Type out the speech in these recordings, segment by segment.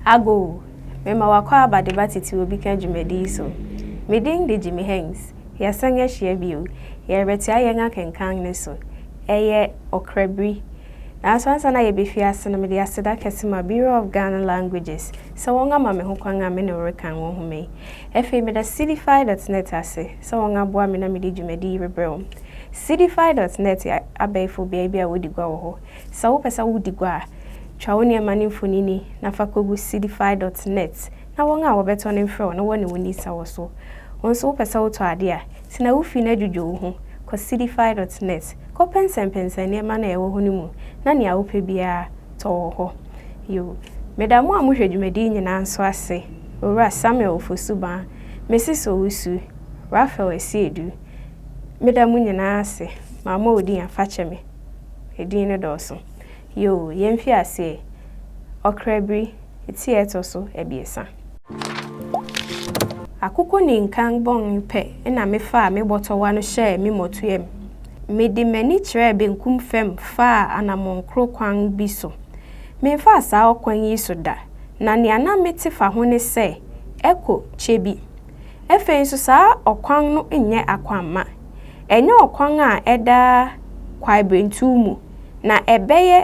Ago, Mema w'akwaaba de ba tete obi ka dwumadi yi so. Me din de Jimmy Hengst. Yɛasan ahyia bio. Yɛrebɛtoa yɛn akenkan no so. Ɛyɛ ɔkra biri. Nanso ansa na yɛbɛfi ase no, mede aseda kɛse ma Bureau of Ghana Languages sɛ wɔama me ho kwan a me ne wo rekan wɔ nhoma yi. Afei meda Cdfi dot net ase sɛ wɔaboa me na mede dwumadi yi rebrɛ wo. Cdfi dot net yɛ Abɛɛfo beae bi a wodi gua wɔ hɔ. Sɛ wopɛ sɛ wodi gua a, twa wo nneɛma no mfonini na fa kogu Seedify dot nɛt na wɔn a wɔbɛtɔ no mfrɛ wo na wɔne wo nni sawa so. Wo nso wopɛ sɛ wotɔ ade a, tena wo fi na dwudwo wo ho. Kɔ Seedify dot nɛt, kɔpɛnsɛmpɛnsɛn nneɛma no a ɛwɔ hɔ no mu na nea wopɛ biara tɔ wɔ hɔ. Yoh. Meda mo a mohwɛ dwumadi yi nyinaa nso ase, Owura Samuel Ofosu-Baa, Mrs. Owusu, Raphael Asiedu, Meda mo nyinaa ase ma mo a odin a fakyɛ me edin no dɔɔso yoo yɛn fi aseɛ ɔkra biri eti a ɛtɔ so abiɛsa akoko ne nkan bɔn pɛ na me faa me bɔtɔwa no hyɛɛ me mɔtoɛm me de m'ani kyerɛɛ benkum fam faa anamɔn koro kwan bi so me nfaa saa ɔkwan yi so da na nea na me te fa ho ne sɛ ɛkɔ kyɛ bi. Afei nso saa ɔkwan no nyɛ akwamma. Ɛnyɛ ɔkwan a ɛda kwaebirentuw mu, na ɛbɛyɛ,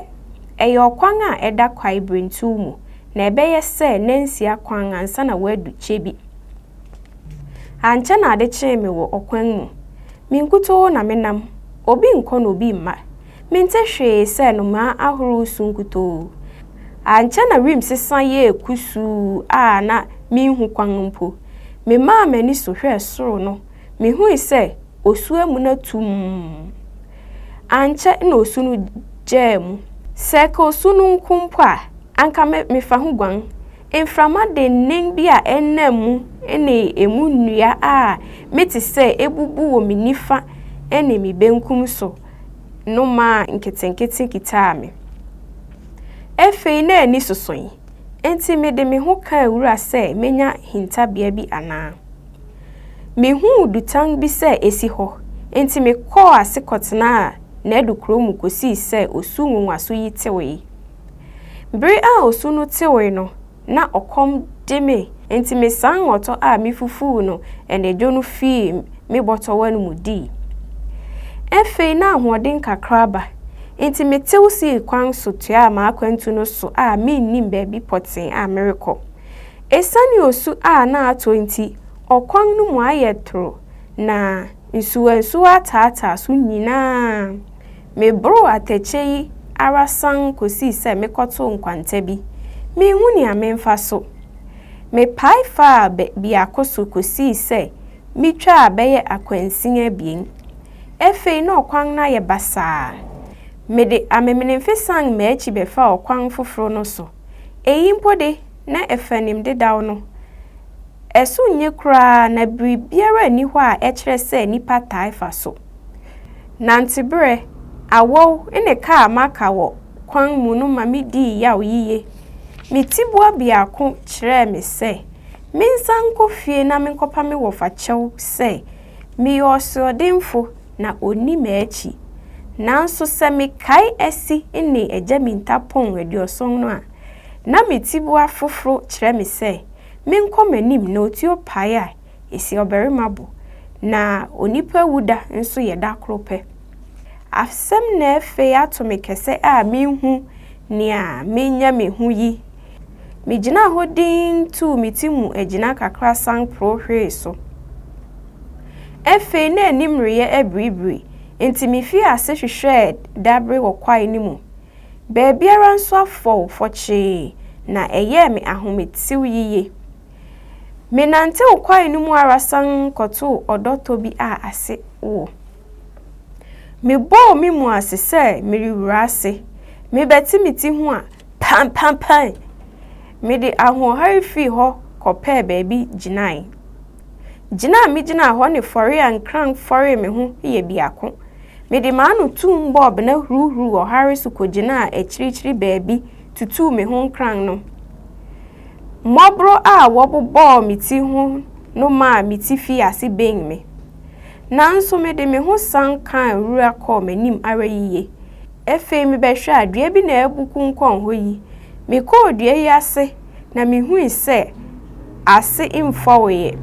ɛyɛ ɔkwan a ɛda kwaebirentuw mu, na ɛbɛyɛ sɛ nnansia kwan ansa na wɔadu kyɛ bi. Ankyɛ na ade kyee me wɔ ɔkwan mu. Me nkutoo na menam, obi nkɔ na obi mma. Mente hwee sɛ nnomaa ahorow resu nkutoo. Ankyɛ na wim sesa yɛɛ kusuu a na minhu kwan mpo. Memaa m'ani so hwɛɛ soro no, mihui sɛ osu amuna tumm. Ankyɛ na osu no gyaa mu. Sɛ ɛka osu no nko mpo a, anka mefa ho guan. Mframa dennen bi a ɛnna mu ne emu nnua a mete sɛ ebubu wɔ me nifa ne me benkum so nnomaa nketenkete kitaa me. Afei na ani sosoe, enti mede me ho kaa wura sɛ menya hintabea bi anaa. Mihuu dutan bi sɛ esi hɔ, enti mekɔɔ ase kɔtenaa n'adukoraw mu kosii sɛ osu nwonwaso yi tewee. Bere a osu no tewee no, na ɔkɔm de me, enti mesaa nwɔtɔ a mifufuu no anadwo no fii me bɔtɔwa no mu dii. Afei na ahoɔden kakra aba, enti metew sii kwan so toaa m'akwantu no so a minnim baabi pɔtee a merekɔ. Esiane osu a na atɔ nti, ɔkwan no mu ayɛ toro, na nsuwansuwa ataataa so nyinaa. Meboroo atɛkyɛ yi ara sann kosii sɛ mekɔtoo nkwanta bi. Minhu nea memfa so. Mepae faa biako so kosii sɛ mitwaa bɛyɛ akwansin abien. Afei na ɔkwan no ayɛ basaa. Mede amemenemfe san m'akyi bɛfaa ɔkwan foforo no so. Eyi mpo de, na ɛfanim dedaw no. Ɛso nyɛ koraa na biribiara nni hɔ a ɛkyerɛ sɛ nnipa taa fa so. Nanteberɛ, awɔw, ne ka a maka wɔ kwan mu no ma midii yaw yiye. Me tiboa biako kyerɛɛ me sɛ mensan nkɔ fie na menkɔpa me wɔfa kyɛw sɛ meyɛ ɔsoɔdenfo na onni m'akyi. Nanso sɛ mekae Asi ne Agya Mintapong aduɔson no a, na me tiboa foforo kyerɛ me sɛ menkɔ m'anim na otuo pae a esi ɔbarima bo, na onipa wu da nso yɛ da koro pɛ. Asɛm na afei ato me kɛsɛ a minhu nea menya me ho yi. Migyinaa hɔ dinn tuu me ti mu agyina kakra san porow hwee so. Afei na anim reyɛ abiribiri, enti mifii ase hwehwɛɛ dabere wɔ kwae no mu. Baabiara nso afɔw fɔkyee, na ɛyɛɛ me ahometew yiye. Menantew kwae no mu ara san kɔtoo ɔdɔtɔ bi a ase wɔ. Mebɔɔ me mu ase sɛ merewura ase, mebɛte me ti ho a, pampampae! Mede ahoɔhare fii hɔ kɔpɛɛ baabi gyinae. Gyina a migyinaa hɔ ne fɔre a nkran fɔree me ho yɛ biako. Mede m'ano tumm bɔɔ bena huruhuruw ɔhare so kogyinaa akyirikyiri baabi tutuu me ho nkran no. Mmɔboro a wɔbobɔɔ me ti ho no maa me ti fii ase bɛn me. Nanso mede me ho san kaa nwura kɔɔ m'anim ara yiye. Afei mebɛhwɛ a, dua bi na abu konkɔn hɔ yi. Mekɔɔ dua yi ase na mihui sɛ ase mfɔwee.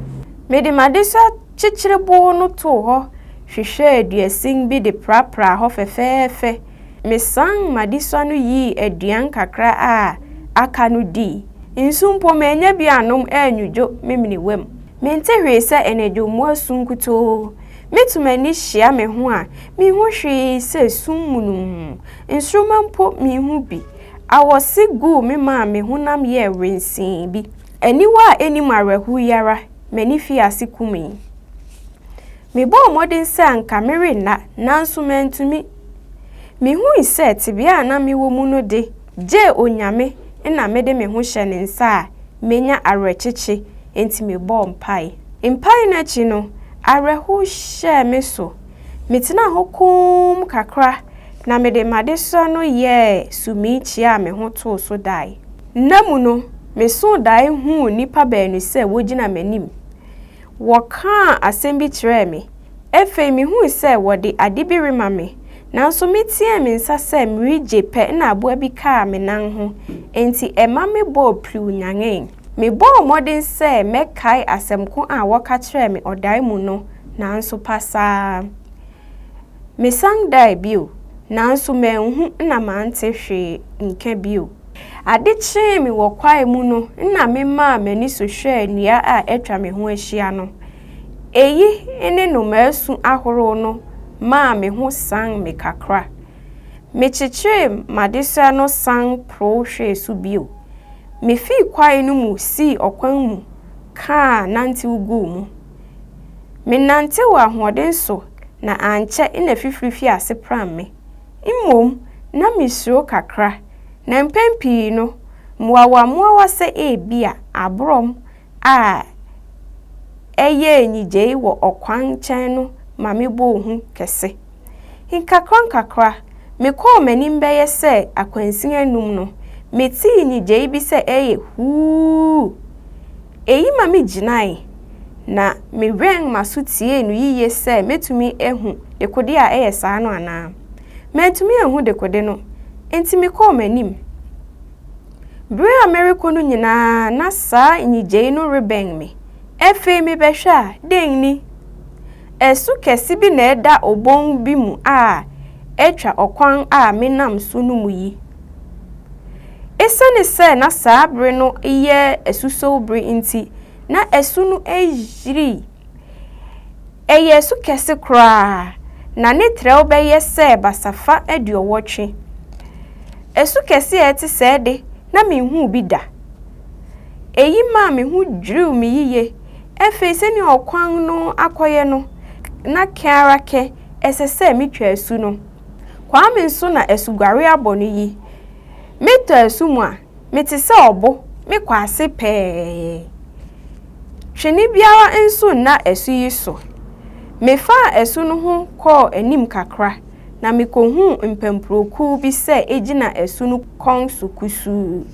Mede m'adesoa kyekyerebow no too hɔ hwehwɛɛ duasin bi de prapraa hɔ fɛfɛɛfɛ. Mesan m'adesoa no yii aduan kakra a aka no dii. Nsu mpo mannya bi annom annwudwo me menewam. Mente hwee sɛ anadwo mmoa su nkutoo. Mitu m'ani hyia me ho a, minhu hwee sɛ sum mununmm. Nsoromma mpo minhu bi. Awɔse guu me maa me honam yɛɛ wensee bi. Aniwa a ennim awerɛhow yi ara, m'ani fii ase kumee. Mebɔɔ mmɔden sɛ anka merenna, nanso mantumi. Mihui sɛ tebea a na mewɔ mu no de, gye Onyame na mede me ho hyɛ ne nsa a, menya awerɛkyekye, enti mebɔɔ mpae. Mpae no akyi no, awerɛhow hyɛɛ me so. Metenaa hɔ komm kakra na mede m'adesrɛ no yɛɛ sumii kyiaa me ho too so dae. Nna mu no, mesoo dae huu nnipa baanu sɛ wogyina m'anim. Wɔkaa asɛm bi kyerɛɛ me. Afei mihui sɛ wɔde ade bi rema me, nanso meteɛɛ me nsa sɛ meregye pɛ na aboa bi kaa me nan ho, enti ɛma mebɔɔ piriw nyanee. Mebɔɔ mmɔden sɛ mɛkae asɛm ko a wɔka kyerɛɛ me ɔdae mu no, nanso pasaa. Mesan dae bio, nanso manhu na mante hwee nka bio. Ade kyee me wɔ kwae mu no na memaa m'ani so hwɛɛ nnua a atwa me ho ahyia no. Eyi ne nnomaa su ahorow no maa me ho san me kakra. Mekyekyee m'adesoa no san porow hwɛɛ so bio. Mifii kwae no mu sii ɔkwan mu kaa nantew guu mu. Menantew ahoɔden so na ankyɛ na fifiri fii ase pram me. Mmom, na misuro kakra, na mpɛn pii no, mmoawammoawa sɛ ebia aborɔm a ɛyɛɛ nnyigyei wɔ ɔkwan nkyɛn no ma mebɔɔ hu kɛse. Nkakrankakra, mekɔɔ m'anim bɛyɛ sɛ akwansin anum no, metee nnyigyei bi sɛ ɛyɛ huuh! Eyi ma migyinae, na miwɛn m'aso tiee no yiye sɛ metumi ahu dekode a ɛyɛ saa no anaa. Mantumi anhu dekode no, enti mekɔɔ m'anim. Bere a merekɔ no nyinaa na saa nnyigyei no rebɛn me. Afei mebɛhwɛ a, dɛn ni? Ɛso kɛse bi na ɛda obon bi mu a atwa ɔkwan a menam so no mu yi. Esiane sɛ na saa bere no yɛ asusɔw bere nti, na asu no ayiri. Ɛyɛ asu kɛse koraa, na ne trɛw bɛyɛ sɛ basafa aduɔwɔtwe. Asu kɛse a ɛte sɛɛ de, na minhuu bi da. Eyi maa me ho dwiriw me yiye. Afei sɛnea ɔkwan no akɔyɛ no, na kɛn ara kɛn, ɛsɛ sɛ mitwa asu no. Kwame nso na asuguare abɔ no yi. Metɔ asu mu a, mete sɛ ɔbo, mekɔ ase pɛɛ. Twene biara nso nna asu yi so. Mefaa asu no ho kɔɔ anim kakra, na mikohuu mpampuro-kuw bi sɛ egyina asu no kɔn so kusuu.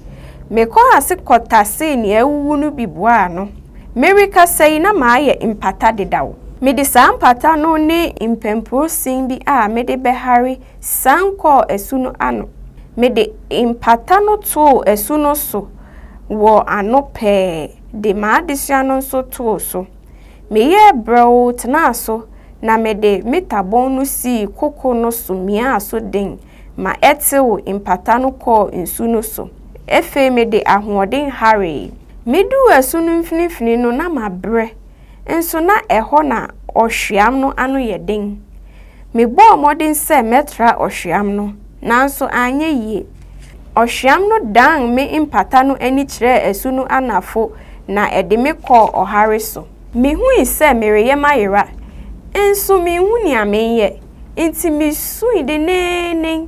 Mekɔɔ ase kɔtasee nea awuwu no bi boaa ano. Merekasa yi na mayɛ mpata dedaw. Mede saa mpata no ne mpampuro sin bi a mede bɛhare sian kɔɔ asu no ano. Mede mpata no too asu no so wɔ ano pɛɛ de m'adesoa no nso too so. Meyɛɛ brɛoo tenaa so na mede me tabon no sii koko no so miaa so den ma ɛtew mpata no kɔɔ nsu no so. Afei mede ahoɔden hawee. Miduu asu no mfinimfini no na mabrɛ nso na ɛhɔ na ɔhweam no ano yɛ den. Mebɔɔ mmɔden sɛ mɛtra ɔhweam no, nanso anyɛ yie. Ɔhweam no dan me mpata no ani kyerɛɛ asu no anafo na ɛde me kɔɔ ɔhare so. Mihui sɛ mereyɛ mayera, nso minhu nea menyɛ, enti misui denneennen.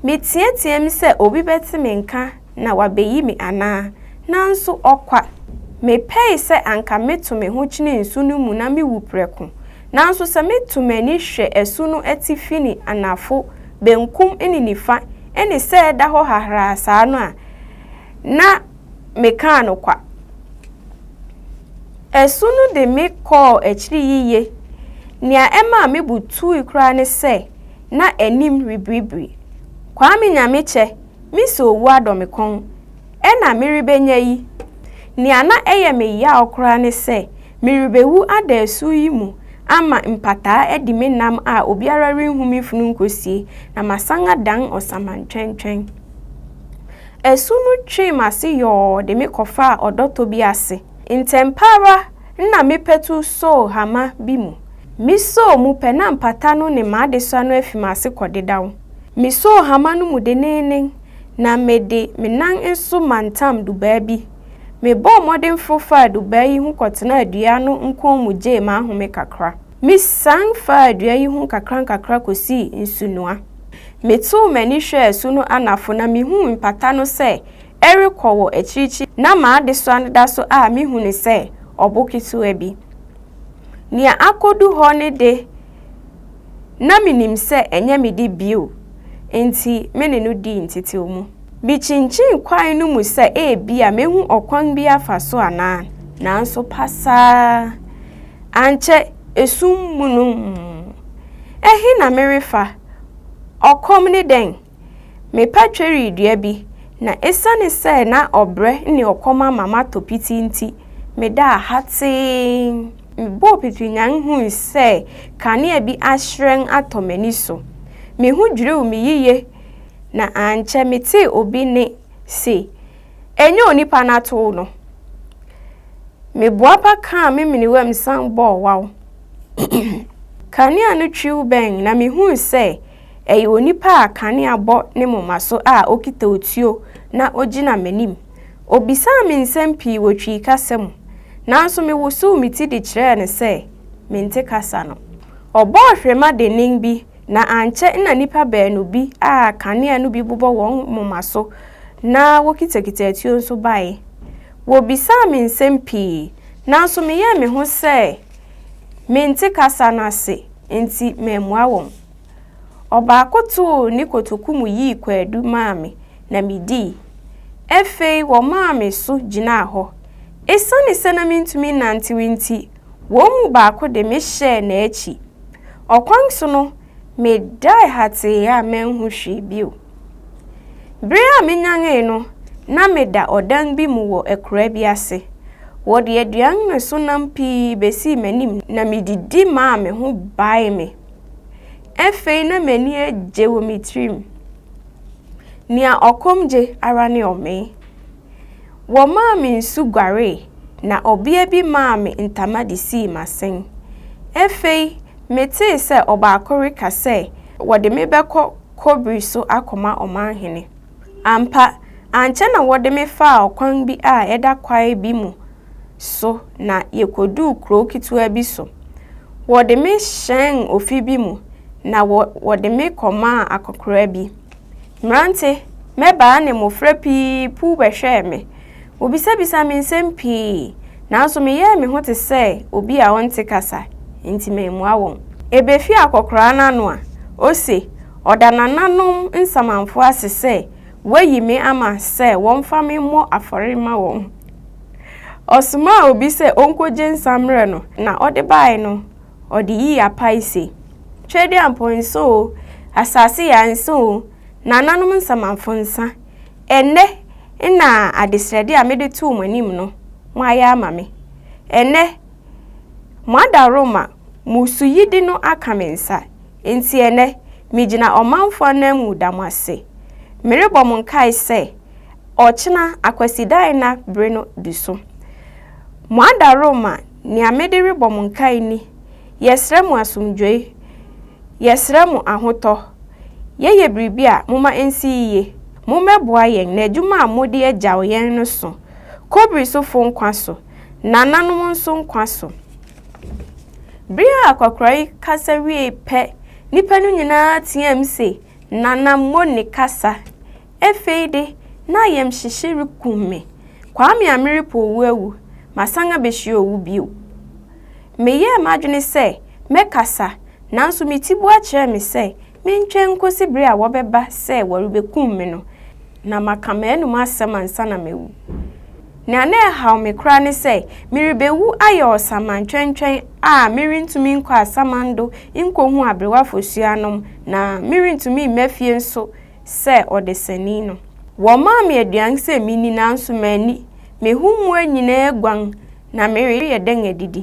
Meteɛteɛɛm sɛ obi bɛte me nka. na wabeyi me anaa? Nanso ɔkwa! Mepɛe sɛ anka meto me ho kyene nsu no mu na mewu prɛko. Nanso sɛ meto m'ani hwɛ asu no atifi ne anafo, benkum ne nifa, ne sɛ ɛda hɔ hahraa saa no a, na mekaa no kwa. Asu no de me kɔɔ akyiri yiye. Nea ɛmaa me bo tui koraa ne sɛ na anim rebiribiri. Kwame Nyamekyɛ, me sɛ owu adɔ me kɔn. Ɛnna merebenya yi, nea na ɛyɛ me yaw koraa ne sɛ merebewu ada asu yi mu ama mpataa adi me nam a obiara renhu me funu nkosie na masan adan ɔsamantwɛntwɛn. Asu no twee m'ase yɔɔ de me kɔfaa ɔdɔtɔ bi ase. Ntɛmpa ara na me patu soo hama bi mu. Misoo mu pɛ na mpataa no ne m'adesoa no afi m'ase kɔdedaw. Mesoo hama no mu denneennen na mede me nan nso mantam dubaa bi. Mebɔɔ mmɔden foro faa dubaa yi ho kɔtenaa dua no nkɔn mu gyee m'ahome kakra. Misian faa dua yi ho nkakrankakra kosii nsunoa. Metoo m'ani hwɛɛ su no anafo na mihuu mpata no sɛ ɛrekɔ wɔ akyirikyiri na m'adesoa no da so a mihu no sɛ ɔbo ketewa bi. Nea akodu hɔ no de, Ná minim sɛ ɛnyɛ me de bio, enti me ne no dii ntetewmu. Mikyinkyin kwae no mu sɛ ebia mehu ɔkwan bi afa so anaa, nanso pasaa. Ankyɛ esum mununmm. Ɛhe na merefa? Ɔkɔm ne dɛn? Mepa tweredua bi, na esiane sɛ na ɔbrɛ ne ɔkɔm ama matɔ piti nti, medaa hatee. Mebɔɔ pitrinyann hui sɛ kanea bi ahyerɛn atɔ m'ani so. Me ho dwiriw me yiye, na ankyɛ metee obi nne se, Ɛnyɛ onipa no atow no! Meboapa kaa me menewam san bɔɔ waw. Kanea no twiw bɛn na mihui sɛ Ɛyɛ onipa a kanea bɔ ne moma so a okita otuo na ogyina m'anim. Obisaa me nsɛm pii wɔ Twi kasa mu, nanso mewosow me ti de kyerɛɛ no sɛ mente kasa no. Ɔbɔɔ hwirema dennen bi, na ankyɛ na nnipa baanu bi a kanea no bi bobɔ wɔn moma so na wokitakita atuo nso bae. Wobisaa me nsɛm pii, nanso meyɛɛ me ho sɛ mente kasa no ase, enti mammua wɔn. Ɔbaako too ne kotoku mu yii kwaadu maa me, na midii. Afei wɔmaa me so gyinaa hɔ. Esiane sɛ na mintumi nnantew nti, wɔn mu baako de me hyɛɛ n'akyi. Ɔkwan so no, medae hatee a manhu hwee bio. Bere a minyanee no, na meda ɔdan bi mu wɔ akuraa bi ase. Wɔde aduan ne so nam pii besii m'anim na mididi maa me ho baee me. Afei na m'ani agye wɔ me tirim. Nea ɔkɔm gye ara ne ɔmee. Wɔmaa me nsu guaree, na ɔbea bi maa me ntama de sii m'asen. Afei metee sɛ ɔbaako reka sɛ wɔde me bɛkɔ Kobri so akɔma ɔmanhene. Ampa, ankyɛ na wɔde me faa ɔkwan bi a ɛda kwae bi mu so na yekoduu kurow ketewa bi so. Wɔde me hyɛɛn ofi bi mu na wɔ wɔde me kɔmaa akɔkora bi. Mmerante, mmabaa ne mmofra pii puw bɛhwɛɛ me. Wobisabisaa me nsɛm pii, nanso meyɛɛ me ho te sɛ obi a ɔnte kasa, enti mammua wɔn. Ebefi akɔkoraa no ano a, ose ɔda nananom nsamanfo ase sɛ wɔayi me ama sɛ wɔmfa me mmɔ afɔre mma wɔn. Ɔsomaa obi sɛ onkogye nsa mmrɛ no, na ɔde bae no, ɔde yii apae se, Tweaduampɔn nsa oo, asase yaa nsa oo, nananom nsamanfo nsa, Ɛnnɛ na adesrɛde a mede too mo anim no, moayɛ ama me. Ɛnnɛ, moada Roma mmusuyɛdi no aka me nsa. Enti ɛnnɛ, migyina ɔmanfo ananmu da mo ase. Merebɔ mo nkae sɛ, ɔkyena, Akwasidaɛna bere no du so. Moada Roma Nea mede rebɔ mo nkae ni, Yɛsrɛ mo asomdwoe. Yɛsrɛ mo ahotɔ. Yɛyɛ biribi a, momma ensi yiye. Mommɛboa yɛn na adwuma a mode agyaw yɛn no so. Kobiri sofo nkwa so, nananom nso nkwa so. Bere a akwakoraa yi kasa wiei pɛ, nnipa no nyinaa teɛɛm se, Nana Mone kasa! Afei de, na ayamhyehye rekum me. Kwame a merepo owu awu, masan abehyia owu bio. Meyɛɛ m'adwene sɛ mɛkasa, nanso me tiboa kyerɛɛ me sɛ mentwɛn nkosi bere a wɔbɛba sɛ wɔrebekum me no, na maka m'anom asɛm ansa na mawu. Nea na ɛhaw me koraa ne sɛ merebewu ayɛ ɔsaman twɛntwɛn a merentumi nkɔ asamando nkohu aberewa fasuanom, na merentumi mma fie nso sɛ ɔdesani no. Wɔmaa me aduan sɛ minni nanso manni. Me ho mmoa nyinaa aguan na mereyɛ dɛn adidi?